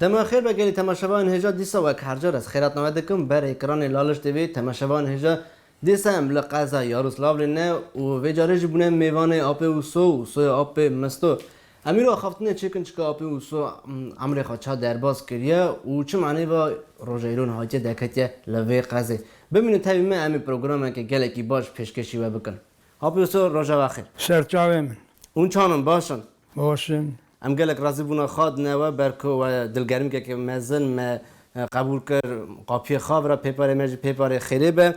Dema xêr be gelê temaşevayan hêja dîsa wek her car ez xêrat name dikim ber ekranê Laliş TV temaşevayan hêja dîsa em li qeza Yaroslavlê ne û vê carê jî bûne mêvanê apê Uso û soya apê Misto Emîro axaftinê çêkin çika apê û so emrê xwe ça derbas kiriye û çi maneyê va rojeyron hatiye derketiye li vê qezê. Bimînin tevî me em ê programeke gelekî baş pêşkêşî we bikin. Apê û so rojeva xêr. Şer çavê min. Hûn çan in baş in? Baş in. Em gelek razî bûna xadine we ber ku we dilgermikeke mezin me qebûl kir qapiyê xabira pêparê me jî pêparê xêrê be.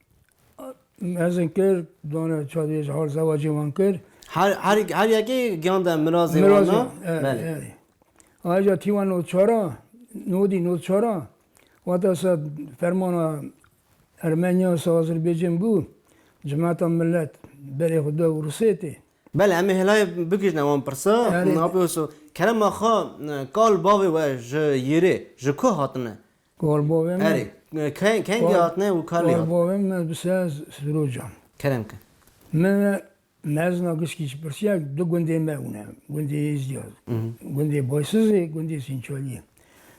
Mezin kir, dana çadê ji hal zewacê wan kir. Her her her yekê giyan de mirazê wan Mirazê, na. erê, Belê. erê. Ayrıca Tivan Notçara, Nodi Notçara, vata se fermana Ermenya se Azerbaycan bu, cemaata millet berê xwe da û Rusêtê. Belê, em ê helayê bikijne wan pirsa, Erê. napê wisa. Kerema xwe, kal bavê we ji Yirê, ji ku hatine? Erê, keng kengî hatine û kalî hatine. Gorbovên me bi se sirocan. Kerem ke. Min ve mezna giskî ji pirsiya du gundên me hûne. Gundê Êzdiya, gundê Baysizê, gundê Sînçaliyê.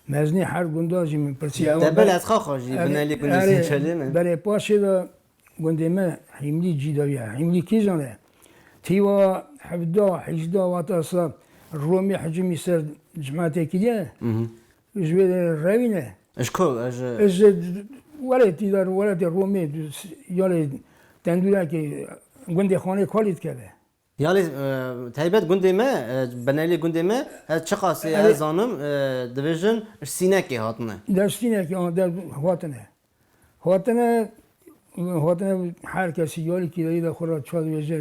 Meznî her gunda jî min pirsiya ew. Tebel ez xaxa jî binelî gundê Sînçaliyê me. Berê paşê de gundê me Hîmlî cî dawiya. Hîmlî kîjan e? Tîwa hevda, hîjda wata sal Romî hicimî ser cemaatê kiriye. Ji wê re rewîne. Ji ku ji. Ji welatî de welatê Romê ya lê tendûrekê gundê Xanê Kalî dikeve. Ya lê taybet gundê me benelê gundê me ez çiqasê ez zanim dibêjin ji Sînekê hatine. De ji Sînekê hatine. Hatine hatine her kesî yalî kîreyî de xwe re çar wêje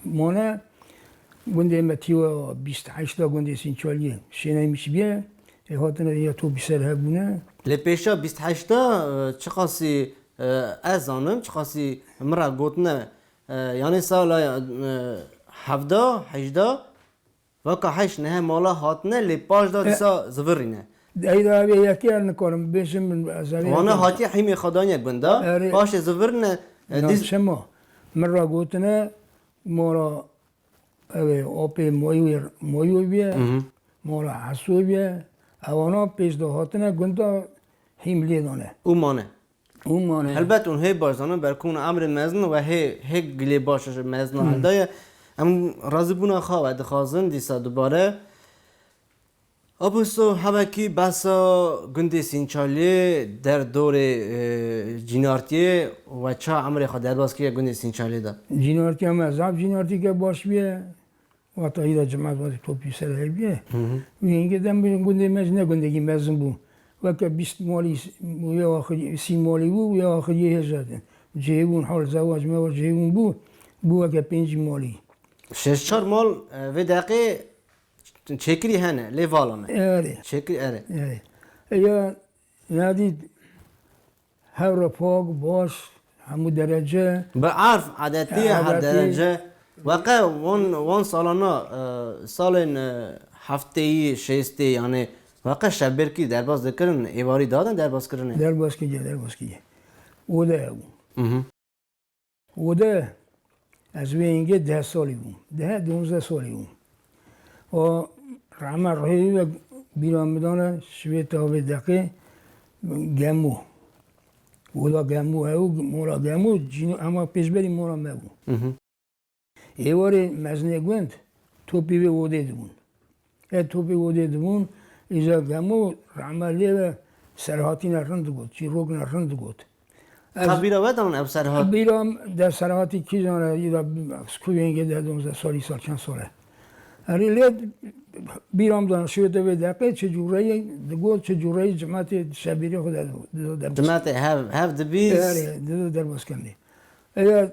mane. Gundê me tî we bîst heşta gundê Sînçaliyê şêneyê Mişibiyê ê hatine ya to bi ser hebûne. Lê pêşa bîst heşta çiqasî ez zanim çiqasî min re gotine yanê sala hevda hejda Vaka heyş nehe mala hatine lê paş da disa zivirîne. Heyda vê yekê ya nikarim bêjim min ezerê. Wana hatiye hîmê xwe daniye gunde paşê zivirine dîs. Çima min ra gotine mala ev ê apê Moyû bîye mala Hesû bîye ewana pêş de hatine gunde hîm lê dane. Û mane. Helbet hûn hê baş zanin ber ku hûn amrê mezin we hê hê gilê baş ji mezina hil daye. Em razîbûna xwe we dixwazin dîsa dubare. Aposto hevekî behsa gundê Sînçaliyê der dorê Cînartiyê we ça emrê xwe derbas kiriye gundê Sînçaliyê de? Cînartiya me zaf cînartîke baş bûye. Wata îra cemaat wate topî ser hevî ye. Wî hingê dem bû gundê me ji ne gundekî mezin bû. Weke bîst malî û ya axirî sî malî bû û ya axirîyê hêj hate. Cihê wûn hal zawa ji me wa cihê wûn bû, bû weke pêncî malî. Şeş çar mal vê deqê çêkirî hene lê vala me. Erê. Çêkirî erê. Erê. Ya Ya dî hewre pak, baş, hemû derece. Bi erf, adetî her derece. Weqe wan wan salan na salên hefteyî, şêstê yanê weqe şebêrkî derbas dikirin, êvarî dadin derbaskirinê? Derbaskirî, derbaskirî. Odeya bû. Û de ez wê yengê deh salî bûm. Deh, donzdeh salî bûm. Û rehma ruhê wî wek bîra min dane ji vê tavê deqê Gemû. Oda Gemû hebû, mala Gemû cîno hema pêşberî mala me bû. Êvarê mezinê gund topî vê odê dibûn. Ke topî odê dibûn îcar Gemo rehme lê be serhatîne rind digot, çîrokine rind digot. Ka bîra we dane ev serhat? Bîra de serhatî kî zane îra ku vêngê deh donzdeh salî sal çend sal e. Erê lê bîra min dane şiwete vê deqê çi cûreyê digot, çi cûreyê cimetê şebîrê xwe de dido derbas. Cimetê hev hev dibîst. Erê dido derbas kenê. Eya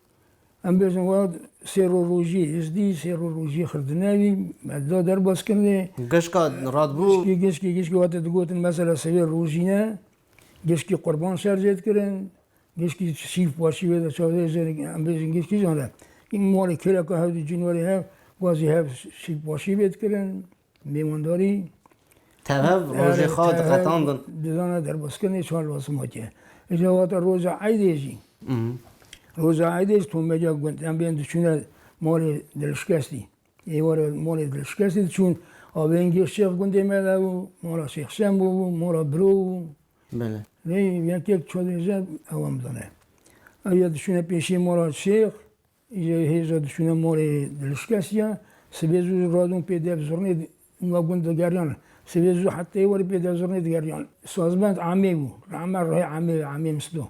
Em bêjin wa sêrorojî, hizdî sêrorojî xirdine wî, da derbas kirine. Gişka radbû. Gişkî gişkî gişkî wate digotin mesela sivê rojî ne, gişkî qurban şer jê dikirin, gişkî şîf başî wê de çavdê jê em bêjin gişkî jane. Malê kêleka hev dû cinwarê hev, wazî hev şîf başî wê dikirin. Mêwandarî Tev rojê xwe diqetandin. Dizana derbaskenê çar lasima ke. Îja wate roja eydê jî. Roja eydê jî tomeca gund. Em bên diçûne malê dilişkestî. Êware malê dilişkestî diçûn. A vengê Şêx Gundê me de bû, mala Şêx Şembo bû, mala biro bû. Belê. Lê vengê çodêje ewam dane. Ew ya diçûne pêşê mala Şêx. Îro hêz re diçûne malê dilişkesiya. Sibê zû radon pê dev zirnê nûa gund digeriyan. Sibê zû heteyê werî pê dev zirnê digeriyan. Sazbend Amê bû. Li Amer rehê Amê ye, Amê Misdo.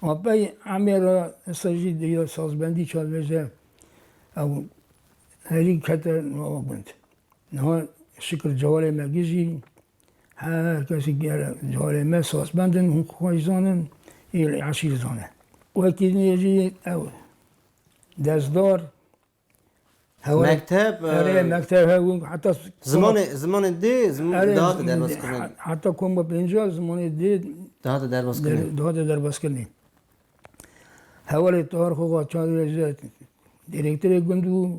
Apey Amê re êsta jî di ya sazbendî çavêje ew herî kete nûa gund. Niha Şikir Cewalê me gijî. Her kesî gere carê me sazbend in, hûn xwe jî zanin, êrî eşî jî zane. Wekî nê jî ew dezdar Mekteb Erê mekteb hebû heta Zimanê zimanê dê zimanê dihate derbaskirinê. Heta koma pêncîya zimanê dê dihate derbaskinê. Dihate derbaskinê. Hevalê Tahir Xoxaçarî re jî direktorê gund bû.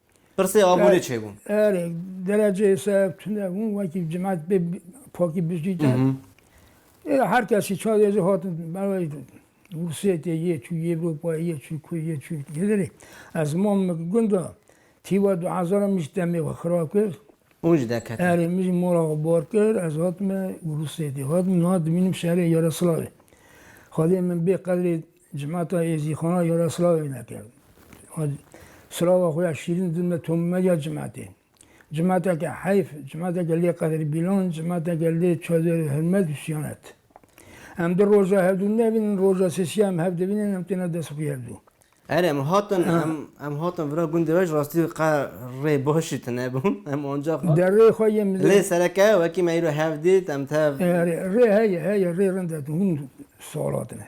Pirsê abûnê çêbûn. Erê, dereceyê ser tune bûn, wekî cimet bê pakî bijî de. Êra her kesî çavê zî hatin berwey Rûsiyê tê yê çû Ewropayê yê çû ku yê çû hêderê. Ez mam min gunda tîwa du hezar min jî demê xwe xira kir. Hûn jî derketin. Erê min jî mala xwe bar kir, ez hatime Rûsiyê tê. Hatim niha dimînim şerê Yaraslavê. Xwedê min bê qedrê Cemata Êzîxana jara silavê neke. Silava xwe ya şîrîn didime tomîmeya cematê. Cemateke heyf, cemateke lê qedrîbîlan, cemateke lê çadir hirmet û siyanet. Em du roja hevdû nebînin, roja sêsîya em hev dibînin, em têne dest xwe hevdû. Erê em hatin, em hatin vira gundê we ji rastî qe rê baş jî tune bû. Em anca hatin. Derê xwe yên mizin. Lê sereke wekî me îro hev dît, em tev. Erê rê heye, heye rê rind e, hûn sal hatine.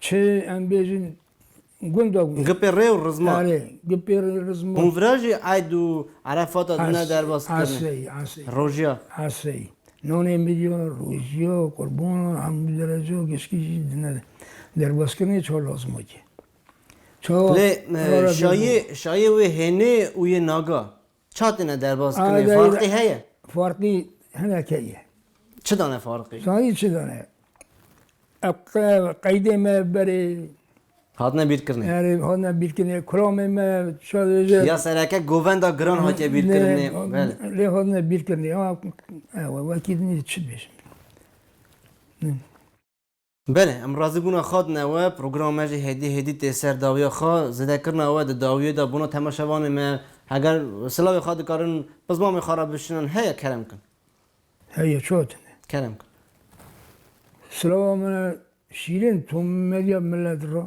Çi em bêjin gunda gunda. Gipê rê û rizma. Arê, gipê rê rizma. Hûn vira jî eyd û erefata din ne derbas kirine. Asey, asey. Rojiya. Asey. Nonê milyona rojiya, qurbana, hemû dereca gişkî jî din ne derbas kirine çawa lazim a ki. Çawa. Lê şayê, şayê wê hênê û yê naga. Ça tune derbas kine farqî heye? Farqî hene keye. Çi dane farqî? Zanî çi dane? Qeydê me berê. Hatine bîrkirinê. Erê hatine bîrkirinê. Kuramê me sadece. Ya sereke govenda giran hatiye bîrkirinê. Belê. Lê hatine bîrkirinê. Ew e wekî nî çi bêjim. Belê, em razîbûna xwe dine we, programa me jî hêdî hêdî tê ser dawiya xwe, zêdekirina we di dawiyê de bona temaşevanê me, heger silavê xwe dikarin bi zmamê xwe re bişînin heye kerem bikin. Heye çawa tune. Kerem bikin. Silava me şîrîn Tom Medya Millet ra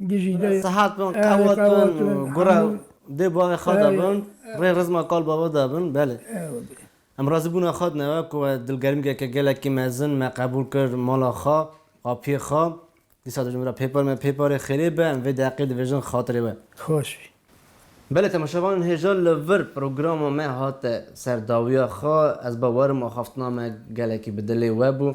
Sihat bin, qewet bin, gure dê bavê xwe de bin, rê rizma kal bava de bin. Belê. Em razîbûna xwe di nava ku we dilgermgeke gelekî mezin me qebûl kir mala xwe, apiyê xwe. Dîsa dijî min re pêpar me pêparê xêrê be, em vê deqê dibêjin xatirê we. Xweş bî. Belê temaşevanên hêja li vir programa me hate ser dawiya xwe. Ez bawer im axaftina me gelekî bi dilê we bû.